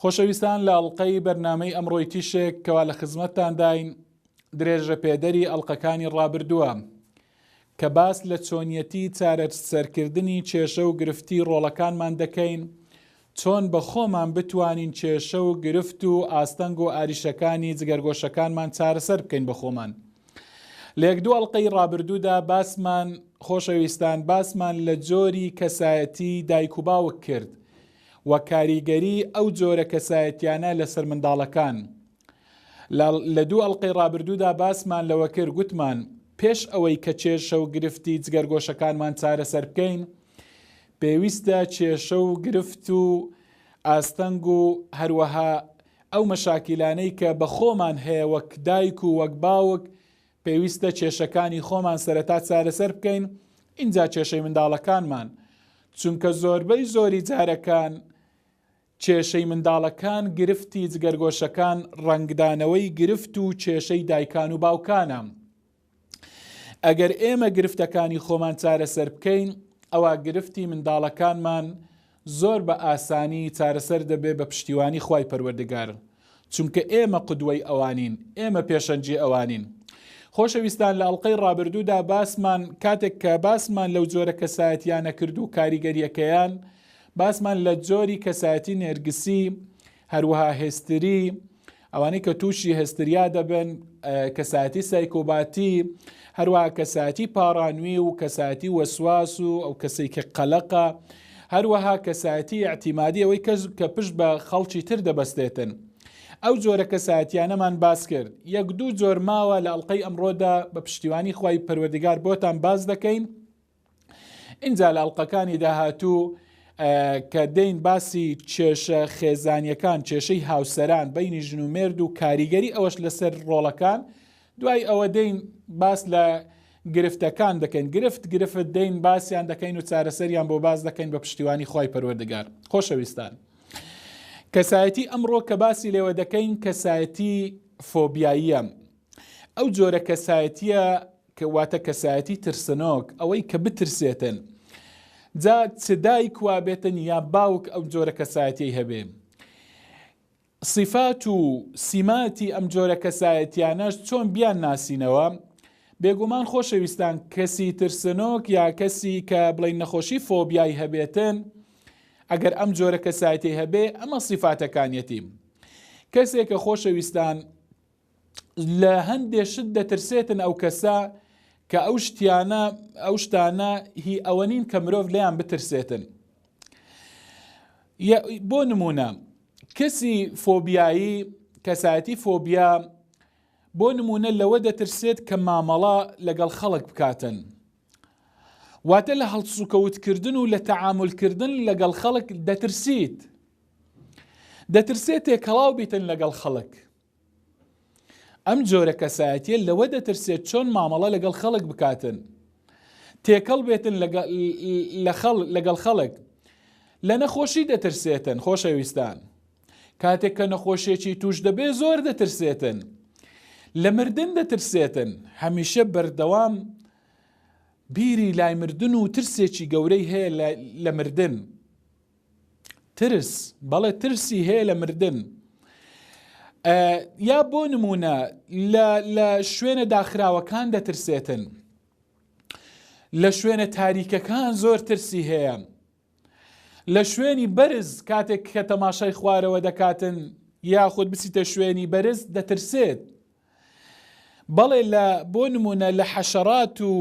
خۆشەویستان لە ئەڵقەی بەرنامەی ئەمڕۆی تیشێک کەوا لە خزمەتتانداین درێژە پێدەری ئەڵلقەکانی ڕابردووە کە باس لە چۆنیەتی چارەج سەرکردنی کێشە و گرفتی ڕۆڵەکانمان دەکەین چۆن بە خۆمان بتوانین کێشە و گرفت و ئاستەنگ و ئاریشەکانی جگەرگۆشەکانمان چارەسەر بکەین بە خۆمان. لێک دوو ئەڵلقەی ڕابردوودا باسمان خۆشەویستان باسمان لە جۆری کەسایەتی دایک و باوک کرد و کاریگەری ئەو جۆرە کەسایەتیانە لەسەر منداڵەکان لە لە دوو ئەڵقەی ڕابردوودا باسمان لەوە کرد گوتمان پێش ئەوەی کە کێشە و گرفتی جگەرگۆشەکانمان چارەسەر بکەین پێویستە کێشە و گرفت و ئاستەنگ و هەروەها ئەو مەشاکیلانەی کە بە خۆمان هەیە وەک دایک و وەک باوک پێویستە کێشەکانی خۆمان سەرەتا چارەسەر بکەین ئینجا کێشەی منداڵەکانمان چونکە زۆربەی زۆری جارەکان کێشەی منداڵەکان گرفتی جگەرگۆشەکان ڕەنگدانەوەی گرفت و کێشەی دایکان و باوکانە ئەگەر ئێمە گرفتەکانی خۆمان چارەسەر بکەین ئەوە گرفتی منداڵەکانمان زۆر بە ئاسانی چارەسەر دەبێ بە پشتیوانی خوای پەروەردگار چونکە ئێمە قودوەی ئەوانین ئێمە پێشەنگی ئەوانین خۆشەویستان لە ئەڵقەی ڕابردوودا باسمان کاتێک کە باسمان لەو جۆرە کەسایەتیانە کرد و کاریگەریەکەیان باسمان لە جۆری کەسایەتی نێرگسی هەروەها هێستری ئەوانەی کە تووشی هەستریا دەبن کەساتی سایکۆباتی هەروە کەساتی پارانوی و کەساتی وەسواس و ئەو کەسێک کە قەلەقە هەروەها کەساتی ئەتیمادی ئەوەی کەس کە پشت بە خەڵکی تر دەبەستێتن ئەو جۆرە کەساتیانەمان باس کرد یەک دوو جۆر ماوە لە ئەڵلقەی ئەمڕۆدا بە پشتیوانی خی پەروەردگار بۆتان باس دەکەین ئینجا لە ئەڵلقەکانی داهاتوو کە دەین باسی کێشە خێزانیەکان کێشەی هاوسەران بینی ژن و مێرد و کاریگەری ئەوەش لەسەر ڕۆڵەکان دوای ئەوە دەین باس لە گرفتەکان دەکەین گرفت گرفت دەین باسییان دەکەین و چارەسەریان بۆ باز دەکەین بە پشتیوانی خی پەروەردگار خۆشەویستان کەسایەتی ئەمڕۆ کە باسی لێوە دەکەین کەسایەتی فۆبیاییە ئەو جۆرە کەسایەتیە کە واتە کەسایەتی ترسنۆک، ئەوەی کە بترسێتن. جا چ دایک وا بێتن یا باوک ئەم جۆرە کەسایەتیەی هەبێ. سیفات و سیماتی ئەم جۆرە کەسایەتیانەش چۆن بیان ناسینەوە؟ بێگومان خۆشەویستان کەسی ترسنۆک یا کەسی کە بڵین نەخۆشی فۆبیای هەبێتن، ئەگەر ئەم جۆرە کەسایەتی هەبێ ئەمە سیفاتەکانیەتی. کەسێک کە خۆشەویستان لە هەندێ شت دەترسێتن ئەو کەسە کە ئەو شتیانە ئەو شتانە هی ئەوە نین کە مرۆڤ لەیان بترسێتن بۆ نمونە کەسی فۆبیایی کەسایەتی فۆبیا بۆ نمونە لەوە دەترسێت کە مامەڵە لەگەڵ خەڵک بکاتن واتە لە هەڵسوکەوتکردن و لە تەعاملکردن لەگەڵ خەڵک دەترسیت دەترسێت تێکەڵاو بیتن لەگەڵ خەڵک ئەم جۆرە کەسایەتیە لەوە دەترسێت چۆن مامەڵە لەگەڵ خەڵک بکاتن تێکەڵ بێتن لەگەڵ خەڵک لە نەخۆشی دەترسێتن خۆشەویستان کاتێک کە نەخۆشیێکی توش دەبێ زۆر دەترسێتن لە مردن دەترسێتن هەمیشە بەردەوام بیری لای مردن و ترسێکی گەورەی هەیە لە مردن ترس بەڵێ ترسی هەیە لە مردن یا بۆ نمونە لە شوێنە داخراوەکان دەترسێتن لە شوێنە تاریکەکان زۆر ترسی هەیە لە شوێنی بەرز کاتێک کە تەماشای خوارەوە دەکاتن یاخود بچیتە شوێنی بەرز دەترسێت بەڵێ لە بۆ نمونە لە حەشەڕات و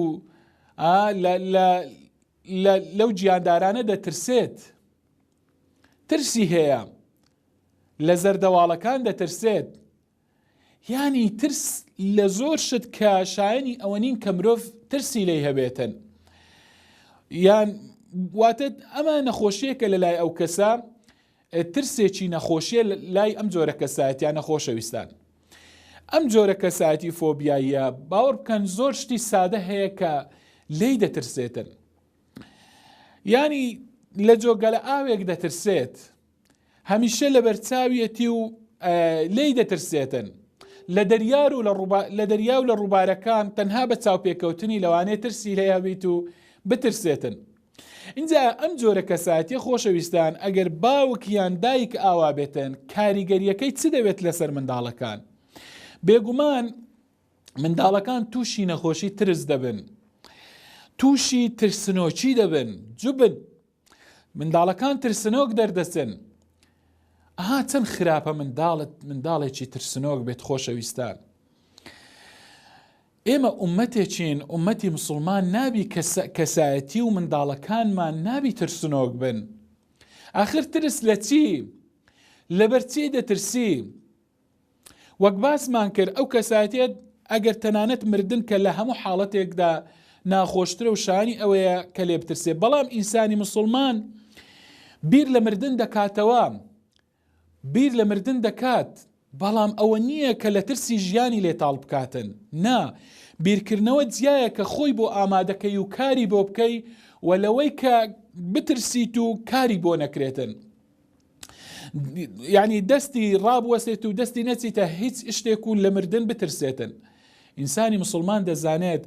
لە لەو گیاندارانە دەترسێت ترسی هەیە لە زەردەواڵەکان دەترسێت یانی ترس لە زۆر شت کە شایانی ئەوە نین کە مرۆڤ ترسی لی هەبێتن یان واتە ئەمە نەخۆشیەکە لە لای ئەو کەسە ترسێکی نەخۆشیە لای ئەم جۆرە کەسایەتیانە خۆشەویستان ئەم جۆرە کەسایەتی فۆبیاییە باوەڕ بکەن زۆر شتی سادە هەیە کە لی دەترسێتن ینی لە جۆگەلە ئاوێک دەترسێت هەمیشە لە بەرچاویەتی و لی دەترسێتن لە دەریار و لە دەریا و لە ڕووبارەکان تەنها بە چاوپێکەوتنی لەوانێ ترسی لێ هەبیت و بترسێتن ئینجا ئەم جۆرە کەسایەتیە خۆشەویستان ئەگەر باوک یان دایک ئاوا بێتن کاریگەریەکەی چ دەوێت لەسەر منداڵەکان بێگومان منداڵەکان تووشی نەخۆشی ترس دەبن تووشی ترسنۆکی دەبن جوبن منداڵەکان ترسنۆک دەردەچن ئەها چەند خراپە منداڵت منداڵێکی ترسنۆک بێت خۆشەویستان ئێمە ئوممەتێکین، ئوممەتی موسڵمان نابی کە کەسایەتی و منداڵەکانمان نابی ترسنۆک بن. ئاخر ترس لە چی؟ لەبەر چی دەترسی؟ وەک باسمان کرد ئەو کەسایەتێت ئەگەر تەنانەت مردن کە لە هەموو حاڵەتێکدا ناخۆشترە و شانی ئەوەیە کە لێ بترسێ بەڵام ئینسانی مسلمان بیر لە مردن دەکاتەوە بیر لە مردن دەکات، بەڵام ئەوە نییە کە لە ترسی ژیانی لێ تاڵ بکاتن، نا، بیرکردنەوە جیایە کە خۆی بۆ ئامادەکەی و کاری بۆ بکەی و لەوەی کە بترسیت و کاری بۆ نەکرێتن. یانی دەستی ڕابوەسێت و دەستی نەچیتە هیچ شتێک و لە مردن بترسێتن. ئینسانی مسلمان دەزانێت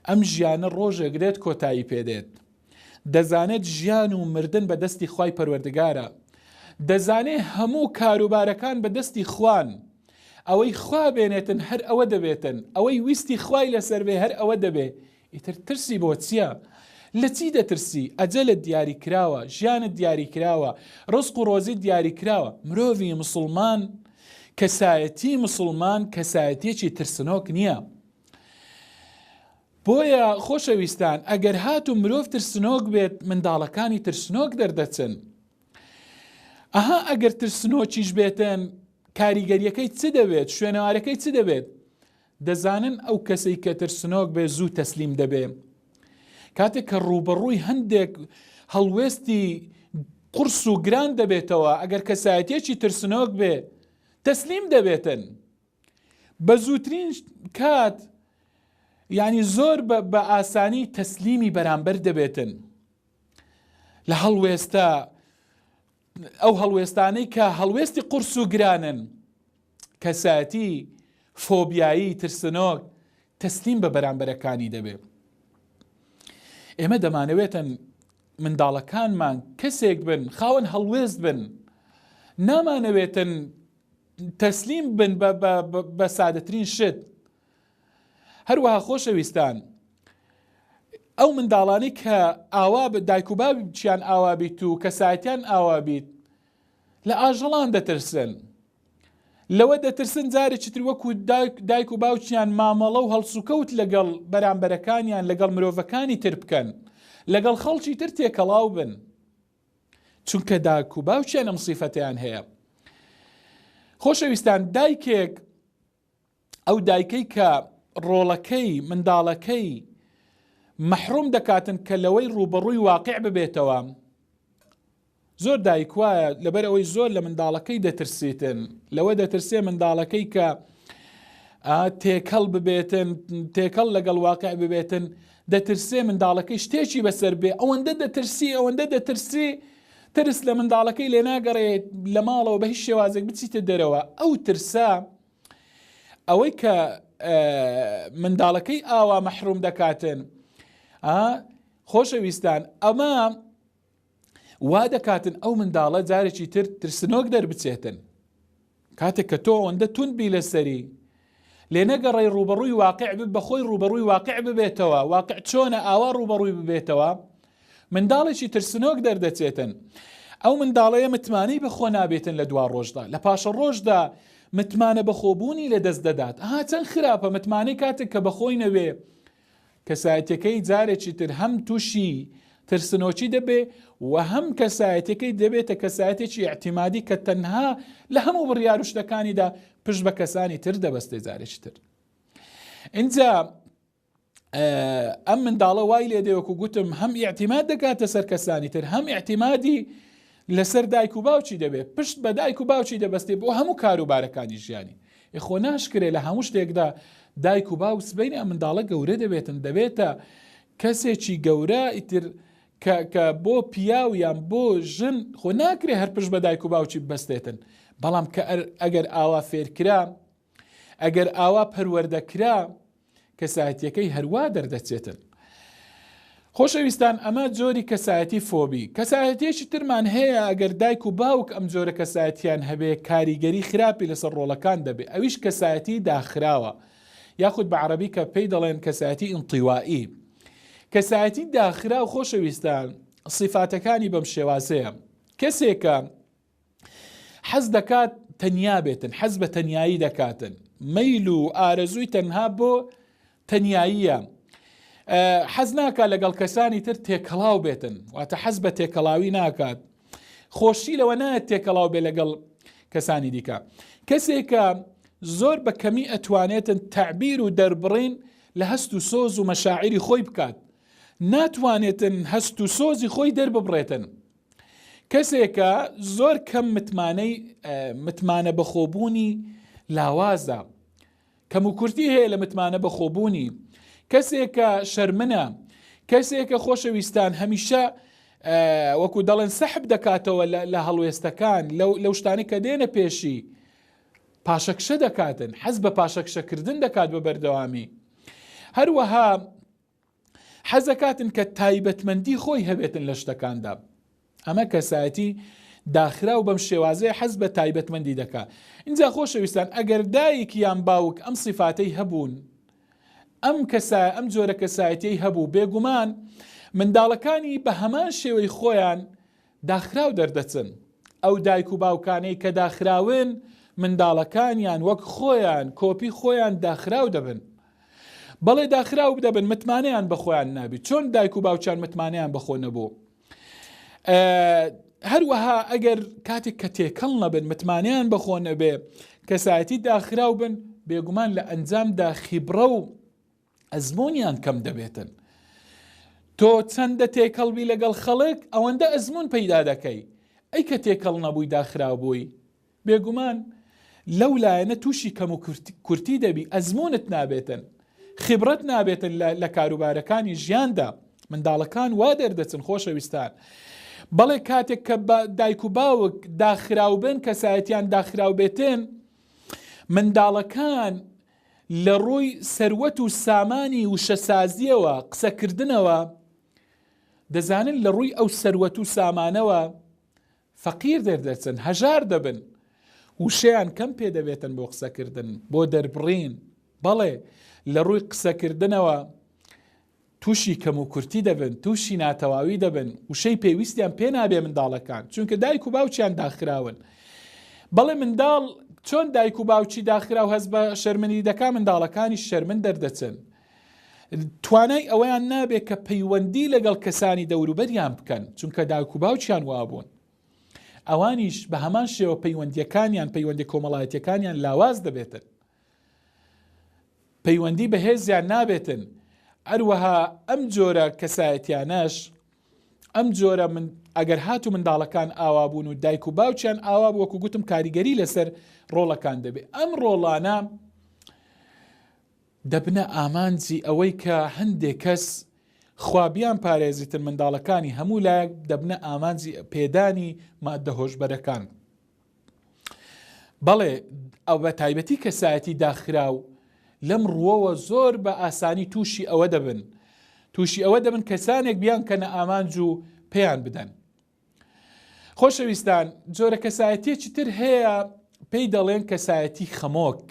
ئەم ژیانە ڕۆژێک دێت کۆتایی پێدێت. دەزانێت ژیان و مردن بە دەستی خوای پەروەردگارە دەزانێ هەموو کاروبارەکان بە دەستی خوان ئەوەی خوا بێنێتن هەر ئەوە دەبێتن ئەوەی ویستی خوای لەسەر بێ هەر ئەوە دەبێ ئیتر ترسی بۆ چییە؟ لە چی دەترسی ئەجەلت دیاری کراوە ژیانت دیاری کراوە ڕسق و ڕۆزی دیاری کراوە مرۆڤی مسلمان کەسایەتی مسلمان کەسایەتیەکی ترسنۆک نییە بۆیە خۆشەویستان ئەگەر هاتوو مرۆڤ ترسنۆک بێت منداڵەکانی ترسنۆک دەردەچن ئەها ئەگەر ترسنۆکیش بێتن کاریگەریەکەی چ دەبێت شوێنەوارەکەی چ دەبێت دەزانن ئەو کەسەی کە ترسنۆک بێ زوو تەسلیم دەبێ کاتێک کە ڕوبەڕووی هەندێک هەڵوێستی قرس و گران دەبێتەوە ئەگەر کەسایەتێکی ترسنۆک بێ تەسلیم دەبێتن بە زووترین کات یانی زۆر بە ئاسانی تەسلیمی بەرامبەر دەبێتن لە هەڵوێستە ئەو هەڵوێستانەی کە هەڵوێستی قورس و گرانن کەسایەتی فۆبیایی ترسنۆک تەسلیم بە بەرامبەرەکانی دەبێت ئێمە دەمانەوێتن منداڵەکانمان کەسێک بن خاوەن هەڵوێست بن نامانەوێتن تەسلیم بن بە سادەترین شت هەروەها خۆشەویستان ئەو منداڵانی کە ئاوا بە دایک و باب چیان ئاوابیت و کەسایەتیان ئاوابیت لە ئاژەڵان دەترسن لەوە دەترسن جارێکی تر وەکو دایک و باوچیان مامەڵە و هەڵسوکەوت لەگەڵ بەرامبەرەکانیان لەگەڵ مرۆڤەکانی تر بکەن لەگەڵ خەڵکی تر تێکەڵاو بن چونکە داک و باوکیان ئەم سیفەتیان هەیە خۆشەویستان دایکێک ئەو دایکەی کە ڕۆڵەکەی منداڵەکەی مەحروم دەکاتن کە لەوەی ڕوبەڕووی واقع ببێتەوە زۆر دایک وایە لەبەر ئەوەی زۆر لە منداڵەکەی دەترسیتن لەوە دەترسێ منداڵەکەی کە تێکەڵ ببێتن تێکەڵ لەگەڵ واقع ببێتن دەترسێ منداڵەکەی شتێکی بەسەر بێ ئەوەندە دەترسی ئەوەندە دەترسی ترس لە منداڵەکەی لێ ناگەڕێ لە ماڵەوە بە هیچ شێوازێک بچیتە دەرەوە ئەو ترسە ئەوەی کە منداڵەکەی ئاوا مەحروم دەکاتن خۆشەویستان ئەمە وا دەکاتن ئەو منداڵە جارێکی تر ترسنۆک دەربچێتن کاتێک کە تۆ ئەوەندە توند بی لەسەری لێ نەگەڕی ڕوبەڕووی واقع بب بە خۆی ڕوبەڕووی واقع ببێتەوە واقع چۆنە ئاوا ڕوبەڕووی ببێتەوە منداڵێکی ترسنۆک دەردەچێتن ئەو منداڵەیە متمانەی بەخۆ نابێتن لە دوا ڕۆژدا لە پاشە ڕۆژدا متمانە بەخۆبوونی لە دەست دەدات ها چەند خراپە متمانەی کاتێک کە بەخۆی نەوێ کەسایەتیەکەی جارێکی تر هەم تووشی ترسنۆکی دەبێ و هەم کەسایەتەکەی دەبێتە کەسایەتێکی ئەعتیمادی کە تەنها لە هەموو بڕیار و شتەکانیدا پشت بە کەسانی تر دەبەستێ جارێکی تر اینجا ئەم منداڵە وای لێ دەوەکو گوتم هەم ئیعتیماد دەکاتە سەر کەسانی تر هەم ئیعتیمادی لەسەر دایک و باوکی دەبێت پشت بە دایک و باوکی دەبەستێ بۆ هەموو کاروبارەکانی ژیانی ئێ خۆ ناشکرێ لە هەموو شتێکدا دایک و باوک سبەینێ ئەم منداڵە گەورە دەبێتن دەبێتە کەسێکی گەورە ئیتر کە بۆ پیاو یان بۆ ژن خۆ ناکرێ هەر پشت بە دایک و باوکی بەستێتن بەڵام کە ئەگەر ئاوا فێرکرا ئەگەر ئاوا پەروەردەکرا کەسایەتیەکەی هەروا دەردەچێتن. خۆشەویستان ئەمە جۆری کەسایەتی فۆبی کەسایەتێکی ترمان هەیە ئەگەر دایک و باوک ئەم جۆرە کەسایەتیان هەبێ کاریگەری خراپی لەسەر ڕۆڵەکان دەبێ ئەویش کەسایەتی داخراوە یاخود بە عربی کە پێی دەڵێن کەسایەتی ئینتیوائی کەسایەتی داخرا و خۆشەویستان سیفاتەکانی بەم شێوازەیە کەسێکە حەز دەکات تەنیا بێتن حەز بە تەنایی دەکاتن مەیل و ئارەزووی تەنها بۆ تەناییە حەز ناکات لەگەڵ کەسانی تر تێکەڵاو بێتن واتە حەز بە تێکەڵاوی ناکات خۆشی لەوە نایەت تێکەڵاو بێ لەگەڵ کەسانی دیکە کەسێکە زۆر بە کەمی ئەتوانێتن تعبیر و دەربڕین لە هەست و سۆز و مەشاعری خۆی بکات ناتوانێتن هەست و سۆزی خۆی دەرببڕێتن کەسێکە زۆر کەم متمانەی متمانە بەخۆبوونی لاوازە کەم و کورتی هەیە لە متمانە بەخۆبوونی کەسێکە شەرمنە کەسێکە خۆشەویستان هەمیشە وەکو دەڵێن سەحب دەکاتەوە لە هەڵوێستەکان لەو شتانی کە دێنە پێشی پاشەکشە دەکاتن حەز بە پاشەکشەکردن دەکات بە بەردەوامی هەروەها حەزەکاتن کە تایبەتمەندی خۆی هەبێتن لە شتەکاندا ئەمە کەسایەتی داخراو بەم شێوازەیە حەز بە تایبەتمەندی دەکا اینجا خۆشەویستان ئەگەر دایک یان باوک ئەم سیفاتەی هەبوون ئەم کەسا ئەم جۆرە کەسایەتی هەبوو بێگومان منداڵەکانی بە هەمان شێوەی خۆیان داخراو دەردەچن، ئەو دایک و باوکانەی کە داخراون منداڵەکانیان وەک خۆیان کۆپی خۆیان داخراو دەبن بەڵێ داخراو دەبن متمانەیان بە خۆیان نابی چۆن دایک و باوچان متمانەیان بەخۆ نەبوو هەروەها ئەگەر کاتێک کە تێکەڵ نەبن متمانیان بەخۆ نەبێ کەسایەتی داخراو بن بێگومان لە ئەنجامدا خیبڕە و ئەزموونیان کەم دەبێتن تۆ چەندە تێکەڵبی لەگەڵ خەڵک ئەوەندە ئەزمون پەیدا دەکەی ئەی کە تێکەڵ نەبووی داخراو بووی بێگومان لەو لایەنە تووشی کەم و کورتی دەبی ئەزمونت نابێتن خبرەت نابێتن لە کاروبارەکانی ژیاندا منداڵەکان وا دەردەچن خۆشەویستان بەڵێ کاتێک کە دایک و باوک داخراوبن کەسایەتیان داخراوبێتن منداڵەکان لە ڕووی سەروەت و سامانی وشەسازییەوە قسەکردنەوە، دەزانن لە ڕووی ئەو سەروەت و سامانەوە فەقیر دەردەچن، هەژار دەبن، وشەیان کەم پێ دەبێتن بۆ قسەکردن، بۆ دەربڕین، بەڵێ لە ڕووی قسەکردنەوە تووشی کەموکورتی دەبن، تووشی ناتەواوی دەبن، وشەی پێویستیان پێ نابێ منداڵەکان، چونکە دایک و باوکیان داخراون. بەڵێ منداڵ چۆن دایک و باوکی داخراو هەست بە شەرمنی دەکا منداڵەکانیش شەرمن دەردەچن. توانای ئەوەیان نابێ کە پەیوەندی لەگەڵ کەسانی دەوروبەریان بکەن، چونکە دایک و باوکیان وابوون. ئەوانیش بە هەمان شێوە پەیوەندیەکانیان، پەیوەندی کۆمەڵایەتیەکانیان لاواز دەبێتن. پەیوەندی بەهێزیان نابێتن ئەروەها ئەم جۆرە کەسایەتیانەش ئەم جۆرە من ئەگەر هات و منداڵەکان ئاوا بوون و دایک و باوچیان ئاوا وەکو گوتم کاریگەری لەسەر ڕۆڵەکان دەبێت ئەم ڕۆڵانە دەبنە ئامانجی ئەوەی کە هەندێک کەس خوابیان پارێزیتن منداڵەکانی هەموو لایەک دەبنە ئامانجی پێدانی مادە هۆشبەرەکان بەڵێ ئەو بە تایبەتی کەسایەتی داخراو لەم ڕووەوە زۆر بە ئاسانی تووشی ئەوە دەبن تووشی ئەوە دەبن کەسانێک بیان کە نە ئامانج و پێیان بدەن خۆشەویستان جۆرە کەسایەتیەکی تر هەیە پێی دەڵێن کەسایەتی خەمۆک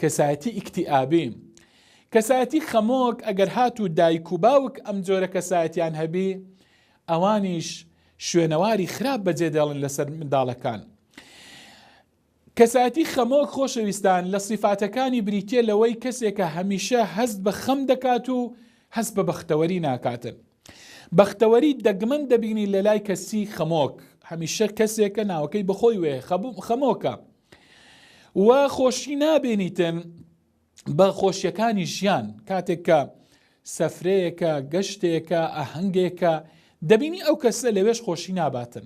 کەسایەتی ئیکتیئابی، کەسایەتی خەمۆک، ئەگەر هاتوو دایک و باوک ئەم جۆرە کەسایەتیان هەبی ئەوانیش شوێنەواری خراپ بەجێدێڵن لەسەر منداڵەکان. کەسایەتی خەمۆک خۆشەویستان لە سیفاتەکانی بریتیە لەوەی کەسێکە هەمیشە هەست بە خەم دەکات و هەست بە بەختەوەری ناکاتن. بەختەوەری دەگمەن دەبینی لە لای کەسی خەمۆک هەمیشە کەسێکە ناوەکەی بەخۆی وێ خەمۆکە. و خۆشی نابێنیتن بە خۆشیەکانی ژیان کاتێک کە سەفرەیەکە گەشتێکە ئاهەنگێکە دەبینی ئەو کەسە لەوێش خۆشی ناباتن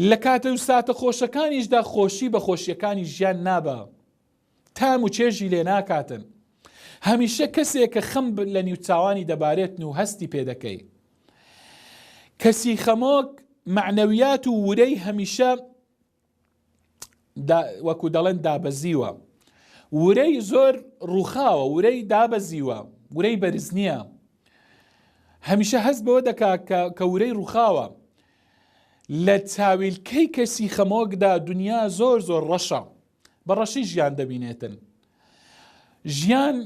لە کاتە و ساتە خۆشەکانیشدا خۆشی بە خۆشیەکانی ژیان نابە تام و چێژی لێ ناکاتن هەمیشە کەسێک کە خەم لە نیو چاوانی دەبارێتن و هەستی پێ دەکەی کەسی خەمۆک معنەویات و ورەی هەمیشە وەکو دەڵێن دابەزیوە ورەی زۆر ڕووخاوە ورەی دابەزیوە ورەی بەرز نییە هەمیشە هەست بەوە دەکا کە ورەی ڕووخاوە لە چاویلکەی کەسی خەمۆکدا دنیا زۆر زۆر ڕەشە بە ڕەشی ژیان دەبینێتن ژیان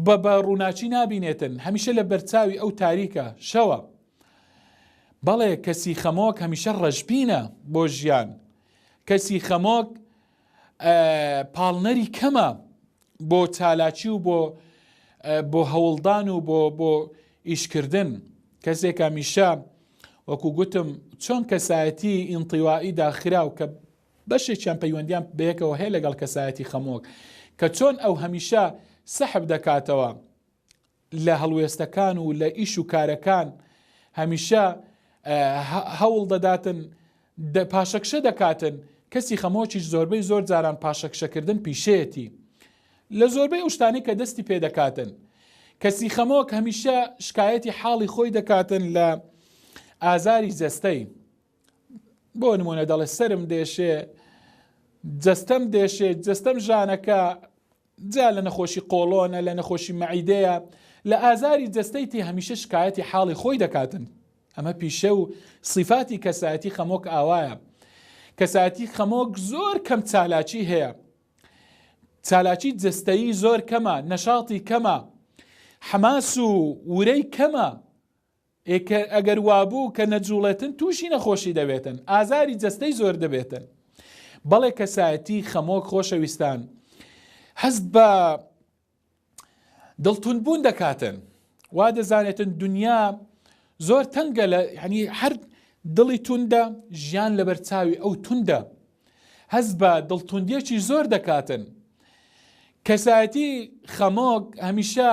بە بە ڕووناچی نابینێتن هەمیشە لە بەرچاوی ئەو تاریکە شەوە بەڵێ کەسی خەمۆک هەمیشە ڕەشبینە بۆ ژیان کەسی خەمۆک پاڵنەری کەمە بۆ چالاکی و بۆ بۆ هەوڵدان و بۆ بۆ ئیشکردن کەسێک هەمیشە وەکو گوتم چۆن کەسایەتی ئینتیوائی داخراو کە بەشێکیان پەیوەندیان بەیەکەوە هەیە لەگەڵ کەسایەتی خەمۆک کە چۆن ئەو هەمیشە سەحب دەکاتەوە لە هەڵوێستەکان و لە ئیش و کارەکان هەمیشە هەوڵ دەداتن پاشەکشە دەکاتن کەسی خەمۆکیش زۆربەی زۆر جاران پاشەکشەکردن پیشەیەتی لە زۆربەی ئەو شتانی کە دەستی پێ دەکاتن کەسی خەمۆک هەمیشە شکایەتی حاڵی خۆی دەکاتن لە ئازاری جەستەی بۆ نمونە دەڵێ سرم دێشێ جەستەم دێشێ جەستەم ژانەکە جا لە نەخۆشی قۆڵۆنە لە نەخۆشی مەعیدەیە لە ئازاری جەستەی تی هەمیشە شکایەتی حاڵی خۆی دەکاتن ئەمە پیشە و سیفاتی کەسایەتی خەمۆک ئاوایە کەسایەتی خەمۆک زۆر کەم چالاکی هەیە چالاکی جستایی زۆر کەمە نەشاڵی کەمە حەماس و ورەی کەمە ئێ کە ئەگەر وابوو کە نەجووڵێتن تووشی نەخۆشی دەبێتن ئازاری جەستەی زۆر دەبێتن بەڵێ کەسایەتی خەمۆک خۆشەویستان هەست بە دڵتون بوون دەکاتن وا دەزانێتن دنیا زۆر تەنگە لە هەنی هەر دڵی توندە ژیان لەبەر چاوی ئەو توندە هەست بە دڵتوندیەکی زۆر دەکاتن. کەسایەتی خەمۆک هەمیشە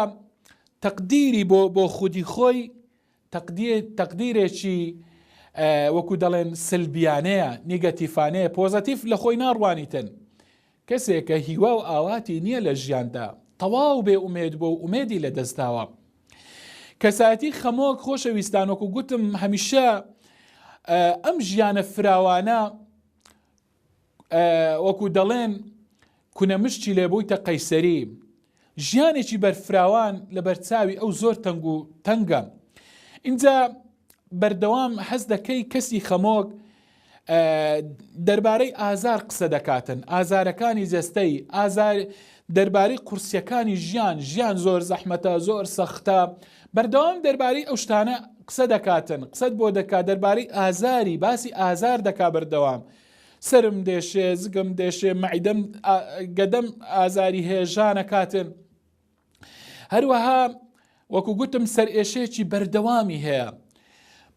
تەقدیری بۆ بۆ خودی خۆی تەقدیرێکی وەکو دەڵێن سلبیانەیە نیگەتیفانەیە پۆزەتیف لە خۆی ناڕوانیتن کەسێکە هیوا و ئاواتی نییە لە ژیاندا تەواو بێ ئومێد بۆ ئومێدی لە دەستداوە کەسایەتی خەمۆک خۆشە ویستان وەکو گوتم هەمیشە ئەم ژیانە فراوانە وەکو دەڵێن کونەمشتی لێ بووی تە قەیسەری ژیانێکی بەرفراوان لە بەرچاوی ئەو زۆر تەنگ و تەنگە اینجا بەردەوام حەز دەکەی کەسی خەمۆک دەربارەی ئازار قسە دەکاتن، ئازارەکانی جەستەی، ئازار دەربارەی قورسیەکانی ژیان، ژیان زۆر زەحمەتە، زۆر سەختە، بەردەوام دەربارەی ئەو شتانە قسە دەکاتن، قسەت بۆ دەکات دەربارەی ئازاری، باسی ئازار دەکا بەردەوام. سرم دێشێ، زگم دێشێ، مەعیدەم گەدەم ئازاری هەیە، ژانەکاتن. هەروەها وەکو گوتم سەرئێشەیەکی بەردەوامی هەیە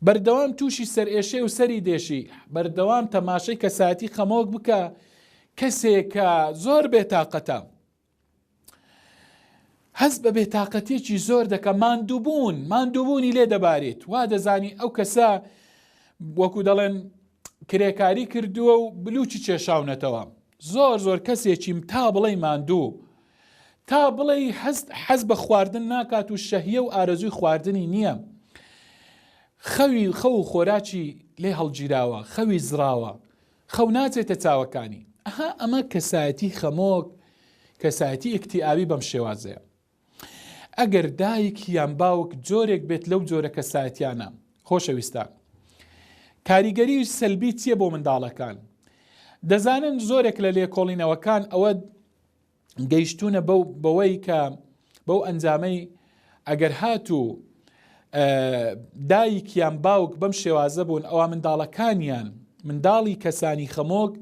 بەردەوام تووشی سەرئێشەی و سەری دێشی بەردەوام تەماشەی کەسایەتی خەمۆک بکە کەسێکە زۆر بێتاقەتە هەست بە بێتاقەتێکی زۆر دەکە ماندووبوون ماندووبوونی لێ دەبارێت وا دەزانی ئەو کەسە وەکو دەڵێن کرێکاری کردووە و بلوچی چێشاونەتەوە زۆر زۆر کەسێکیم تا بڵێی ماندوو تا بڵێی هەست حەز بە خواردن ناکات و شەهیە و ئارەزووی خواردنی نییە خەوی خەو و خۆراکی لێ هەڵگیراوە خەوی زراوە خەو ناچێتە چاوەکانی ئەها ئەمە کەسایەتی خەمۆک کەسایەتی ئکتیئاوی بەم شێوازەیە ئەگەر دایک یان باوک جۆرێک بێت لەو جۆرە کەسایەتیانە. خۆشەویستان کاریگەری سەلبی چییە بۆ منداڵەکان؟ دەزانن زۆرێک لە لێکۆڵینەوەکان ئەوە گەیشتونە بەوەی کە بەو ئەنجامەی ئەگەر هاتوو دایکیان باوک بەم شێوازە بوون ئەوە منداڵەکانیان منداڵی کەسانی خەمۆک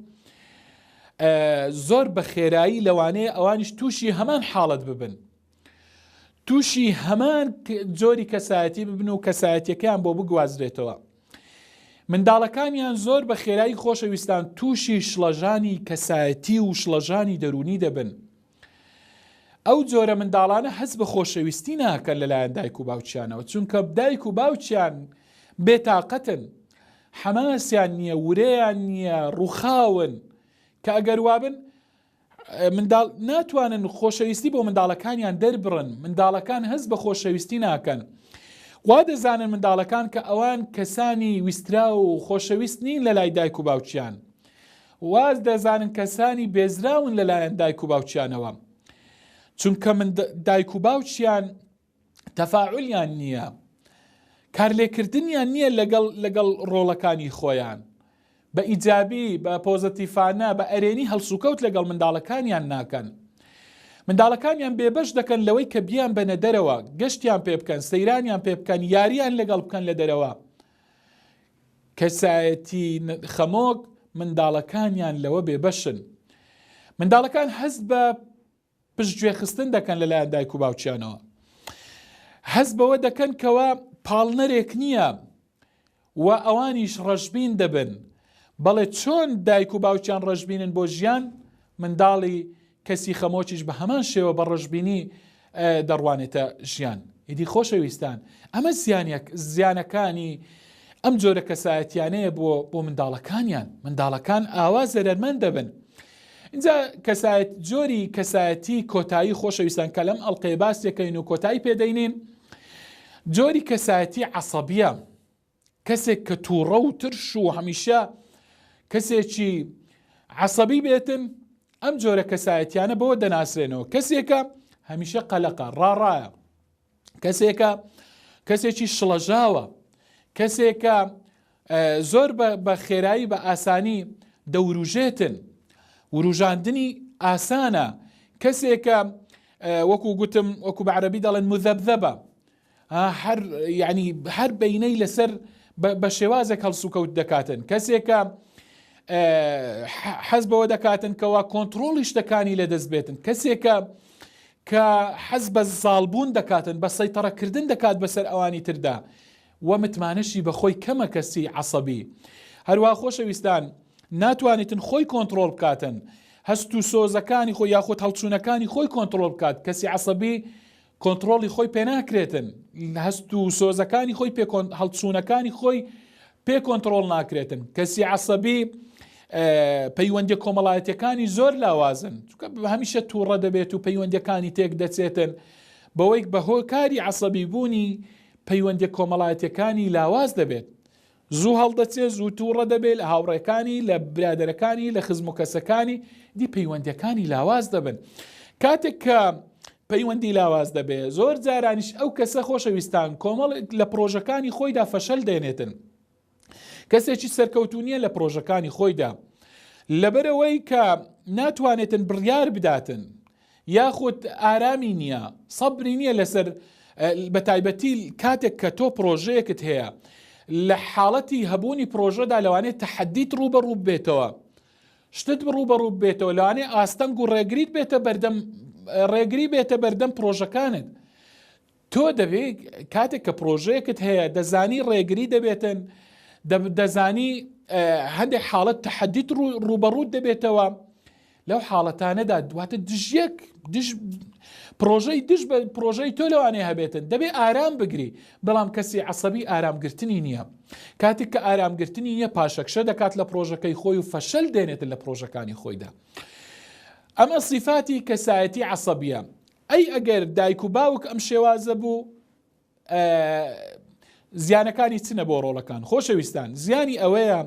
زۆر بە خێرایی لەوانەیە ئەوانیش تووشی هەمان حاڵت ببن تووشی هەمان جۆری کەسایەتی ببن و کەسایەتەکەیان بۆ بگوازرێتەوە منداڵەکانیان زۆر بە خێرایی خۆشەویستان تووشی شڵەژانی کەسایەتی و شڵەژانی دەرونی دەبن ئەو جۆرە منداڵانە هەست بە خۆشەویستی ناکەن لەلایەن دایک و باوچیانەوە چونکە دایک و باوچیان بێتاقەتن حەماسیان نییە ورەیان نییە ڕووخاون کە ئەگەر وابن منداڵ ناتوانن خۆشەویستی بۆ منداڵەکانیان دەربڕن منداڵەکان هەست بە خۆشەویستی ناکەن وا دەزانن منداڵەکان کە ئەوان کەسانی ویسترا و خۆشەویست نین لە لای دایک و باوچیان واز دەزانن کەسانی بێزراون لەلایەن دایک و باوکیانەوە چونکە من دایک و باوکیان تەفاعلیان نییە کارلێکردنیان نییە لەگەڵ لەگەڵ ڕۆڵەکانی خۆیان بە ئیجابی بە پۆزەتیفانە بە ئەرێنی هەڵسوکەوت لەگەڵ منداڵەکانیان ناکەن منداڵەکانیان بێبەش دەکەن لەوەی کە بیان بەنە دەرەوە گەشتیان پێ بکەن سەیرانیان پێ بکەن یاریان لەگەڵ بکەن لە دەرەوە کەسایەتی خەمۆک منداڵەکانیان لەوە بێبەشن منداڵەکان هەست بە پشت گوێخستن دەکەن لەلایەن دایک و باوکیانەوە هەست بەوە دەکەن کەوە پاڵنەرێک نییە و ئەوانیش ڕەشبین دەبن بەڵێ چۆن دایک و باوکیان ڕەشببینن بۆ ژیان منداڵی کەسی خەمۆکیش بە هەمان شێوە بە ڕەشبینی دەڕوانێتە ژیان. ئیدی خۆشەویستان ئەمە زیانەک زیانەکانی ئەم جۆرە کەسایەتیانەیە بۆ بۆ منداڵەکانیان منداڵەکان ئاوا زەرەرمەند دەبن اینجا کەسایەت جۆری کەسایەتی کۆتایی خۆشەویستان کە لەم ئەڵلقەیە باسیەکەین و کۆتایی پێدەینین جۆری کەسایەتی عسەبیە کەسێک کە تووڕە و ترش و هەمیشە کەسێکی عەسەبی بێتن ئەم جۆرە کەسایەتیانە بەوە دەناسرێنەوە کەسێکە هەمیشە قەلەقە ڕاڕایە کەسێکە کەسێکی شڵەژاوە کەسێکە زۆر بە خێرایی بە ئاسانی دەوروژێتن وروژاندنی ئاسانە کەسێکە وەکو گوتم وەکو بە عربی دەڵێن مذەبذەبە هەر یعنی هەر بینەی لەسەر بە شێوازێک هەڵسوکەوت دەکاتن کەسێکە حەز بەوە دەکاتن کەوا کۆنتترۆڵی شتەکانی لە دەست بێتن کەسێکە کە حەز بە زاڵبوون دەکاتن بە سەیتەڕەکردن دەکات بەسەر ئەوانی تردا و متمانەشی بەخۆی کەمە کەسی عسەبی هەروە خۆشەویستان ناتوانیتن خۆی کۆنتترۆل بکاتن هەست و سۆزەکانی خۆ یاخود هەڵچوونەکانی خۆی کۆنتترۆل بکات کەسی عسەبی کۆنتڕۆڵی خۆی پێ ناکرێتن هەست و سۆزەکانی خۆی پێ هەڵچوونەکانی خۆی پێ کۆنتڕۆڵ ناکرێتن کەسی عسەبی پەیوەندی کۆمەڵایەتەکانی زۆر لاوازن چکە هەمیشە تووڕە دەبێت و پەیوەندەکانی تێک دەچێتن بەوەی بە هۆکاری عسەبی بوونی پەیوەندی کۆمەڵایەتەکانی لاواز دەبێت زوو هەڵدەچێ زوو توڕە دەبێ لە هاوڕێکانی لە برادەرەکانی لە خزم و کەسەکانی دی پەیوەندەکانی لاواز دەبن کاتێک کە پەیوەندی لاواز دەبێ زۆر جارانیش ئەو کەسە خۆشەویستان کۆمەڵ لە پرۆژەکانی خۆیدا فەشەل دێنێتن کەسێکی سەرکەوتونیە لە پرۆژەکانی خۆیدا لەبەرەوەی کە ناتوانێتن بڕیار بداتن یاخود ئارامی نیە سەبری نیە لەسەر بەتایبەتی کاتێک کە تۆ پرۆژەیەکت هەیە لە حاڵەتی هەبوونی پرۆژەدا لەوانێت تەحەدیت ڕوبە ڕوو بێتەوە شتت بڕوو بە ڕوو بێتەوە لەوانێ ئاستەنگ و ڕێگریت بێتە بەردەم ڕێگری بێتە بەردەم پرۆژەکانت تۆ دەبێ کاتێک کە پرۆژەیەکت هەیە دەزانی ڕێگری دەبێتن دەزانی هەندێک حاڵەت تحدیت ڕوبەڕوت دەبێتەوە لەو حاڵەتانەدا دواتە دژیەک دژ پرۆژەی دژ بە پرۆژەی تۆ لەوانێ هەبێتن دەبێ ئارام بگری بەڵام کەسی عسەبی ئارامگرتنی نییە کاتێک کە ئارامگرتنی نیە پاشەکشە دەکات لە پرۆژەکەی خۆی و فەشەل دێنێتن لە پرۆژەکانی خۆیدا ئەمە سیفاتی کەسایەتی عسەبیە ئەی ئەگەر دایک و باوک ئەم شێوازە بوو ئە زیانەکانی چنە بۆ ڕۆڵەکان خۆشەویستان زیانی ئەوەیە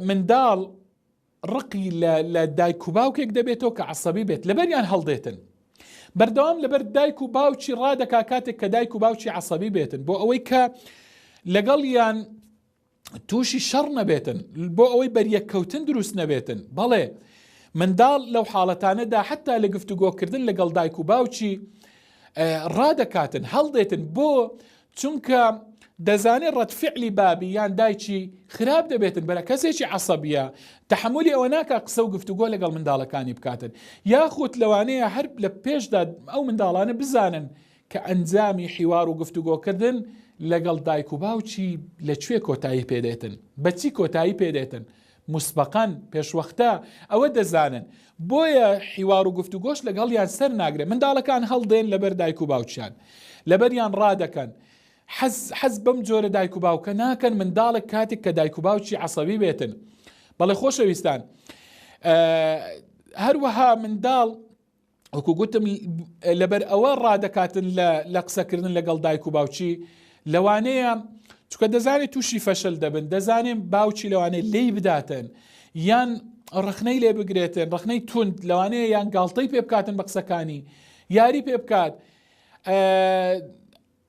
منداڵ ڕقی لە دایک و باوکێک دەبێتەوە کە عسەبی بێت لەبەریان هەڵدێتن بەردەوام لەبەر دایک و باوکی ڕادەکا کاتێک کە دایک و باوکی عسەبی بێتن بۆ ئەوەی کە لەگەڵ یان تووشی شەڕ نەبێتن بۆ ئەوەی بەریەککەوتن دروست نەبێتن بەڵێ منداڵ لەو حاڵەتانەدا حتا لە گفتوگۆکردن لەگەڵ دایک و باوکی ڕادەکاتن هەڵدێتن بۆ چونکە دەزانێت ڕەتفعلی بابی یان دایکی خراپ دەبێتن بەرە کەسێکی عسەبیە تحملی ئەوە ناکە قسە و گفتوگۆ لەگەڵ منداڵەکانی بکاتن یاخود لەوانەیە هەر لە پێشدا ئەو منداڵانە بزانن کە ئەنجامی حیوار و گفتوگۆکردن لەگەڵ دایک و باوکی لە کوێ کۆتایی پێدێتن بە چی کۆتایی پێدێتن مسبقەن پێشوەختە ئەوە دەزانن بۆیە حیوار و گفتوگۆش لەگەڵیان سەر ناگرێت منداڵەکان هەڵدێن لەبەر دایک و باوکیان لەبەریان ڕادەکەن حەز حەز بەم جۆرە دایک و باوکە ناکەن منداڵێک کاتێک کە دایک و باوکی عسەوی بێتن بەڵێ خۆشەویستان هەروەها منداڵ وەکو گوتم لەبەر ئەوە ڕادەکاتن لە قسەکردن لەگەڵ دایک و باوچی لەوانەیە چکە دەزانێت تووشی فەشل دەبن دەزانێن باوچی لەوانەیە لی بداتن یان ڕخنەی لێ بگرێتن ڕخنەی توند لەوانەیە یان گاڵتەی پێ بکاتن بە قسەکانی یاری پێ بکات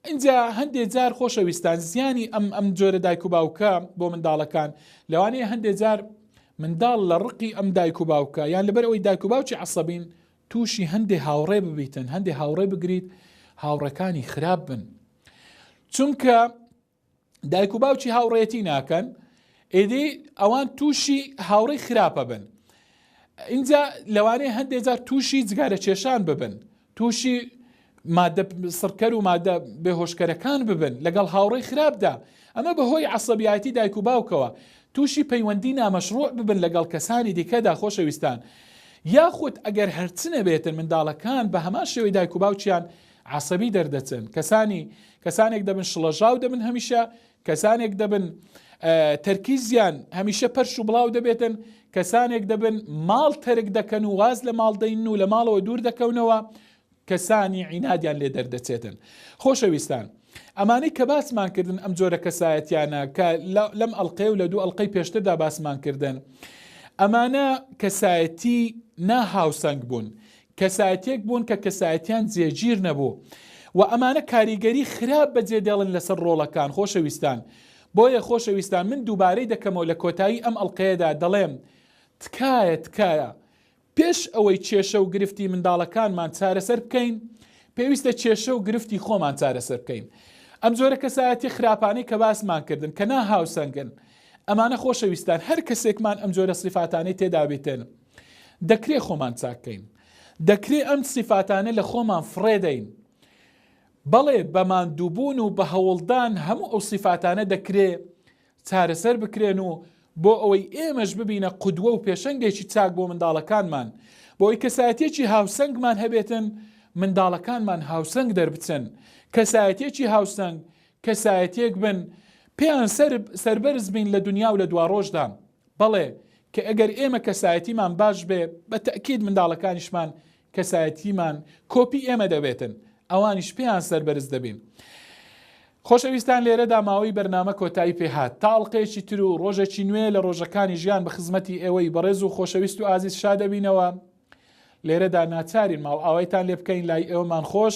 ئینجا هەندێ جار خۆشەویستان زیانی ئەم ئەم جۆرە دایک و باوکە بۆ منداڵەکان لەوانەیە هەندێ جار منداڵ لە ڕقی ئەم دایک و باوکە یان لەبەر ئەوی دایک و باوکی عسەبین تووشی هەندێ هاوڕێ ببیتن هەندێ هاوڕێ بگریت هاوڕەکانی خراپ بن چونکە دایک و باوکی هاوڕێتی ناکەن ئێدی ئەوان تووشی هاوڕێی خراپە بن اینجا لەوانەیە هەندێک جار تووشی جگارە کێشان ببن تووشی مادە سڕکەر و مادە بێهۆشکەرەکان ببن لەگەڵ هاوڕێی خراپدا ئەمە بەهۆی عسەبیایەتی دایک و باوکەوە تووشی پەیوەندی نامەشروع ببن لەگەڵ کەسانی دیکەدا خۆشەویستان یاخود ئەگەر هەرچنە بێتن منداڵەکان بە هەمان شێوەی دایک و باوکیان عەسەبی دەردەچن کەسانی کەسانێک دەبن شڵەژاو دەبن هەمیشە کەسانێک دەبن تەرکیزیان هەمیشە پەرش و بڵاو دەبێتن کەسانێک دەبن ماڵ تەرک دەکەن و واز لە ماڵدەین و لە ماڵەوە دوور دەکەونەوە کەسانی عینادیان لێ دەردەچێتن خۆشەویستان ئەمانەی کە باسمان کردن ئەم جۆرە کەسایەتیانە کە لەم ئەلقەیە و لە دوو ئەلقەی پێشتردا باسمان کردن ئەمانە کەسایەتی ناهاوسەنگ بوون کەسایەتیەک بوون کە کەسایەتیان جێگیر نەبوو و ئەمانە کاریگەری خراپ بەجێ دێڵن لەسەر ڕۆڵەکان خۆشەویستان بۆیە خۆشەویستان من دووبارەی دەکەمەوە لە کۆتایی ئەم ئەڵقەیەدا دەڵێم تکایە تکایە پێش ئەوەی کێشە و گرفتی منداڵەکانمان چارەسەر بکەین پێویستە کێشە و گرفتی خۆمان چارەسەر بکەین ئەم جۆرە کەسایەتی خراپانەی کە باسمان کردن کە نا هاوسەنگن ئەمانە خۆشەویستان هەر کەسێکمان ئەم جۆرە سیفاتانەی تێدابێتێن دەکرێ خۆمان چاک کەین دەکرێ ئەم سیفاتانە لە خۆمان فڕێدەین بەڵێ بە ماندووبوون و بە هەوڵدان هەموو ئەو سیفاتانە دەکرێ چارەسەر بکرێن و بۆ ئەوەی ئێمەش ببینە قودوە و پێشەنگێکی چاک بۆ منداڵەکانمان بۆی کەسایەتێکی هاوسەنگمان هەبێتن منداڵەکانمان هاوسەنگ دەربچن کەسایەتێکی هاوسەنگ کەسایەتێک بن پێیان سربەرز بین لە دنیا و لە دواڕۆژدا بەڵێ کە ئەگەر ئێمە کەسایەتیمان باش بێ بە تەئکید منداڵەکانیشمان کەسایەتیمان کۆپی ئێمە دەبێتن ئەوانیش پێیان سەربەرز دەبین. خۆشەویستان لێرەدا ماوەی بەرنامە کۆتایی پێهات تا ئەڵلقەیەکی تر و ڕۆژێکی نوێ لە ڕۆژەکانی ژیان بە خزمەتی ئێوەی بەڕێز و خۆشەویست و ئازیز شادەبینەوە لێرەدا ناچارین ماڵ ئاوایتان لێ بکەین لای ئێوەمان خۆش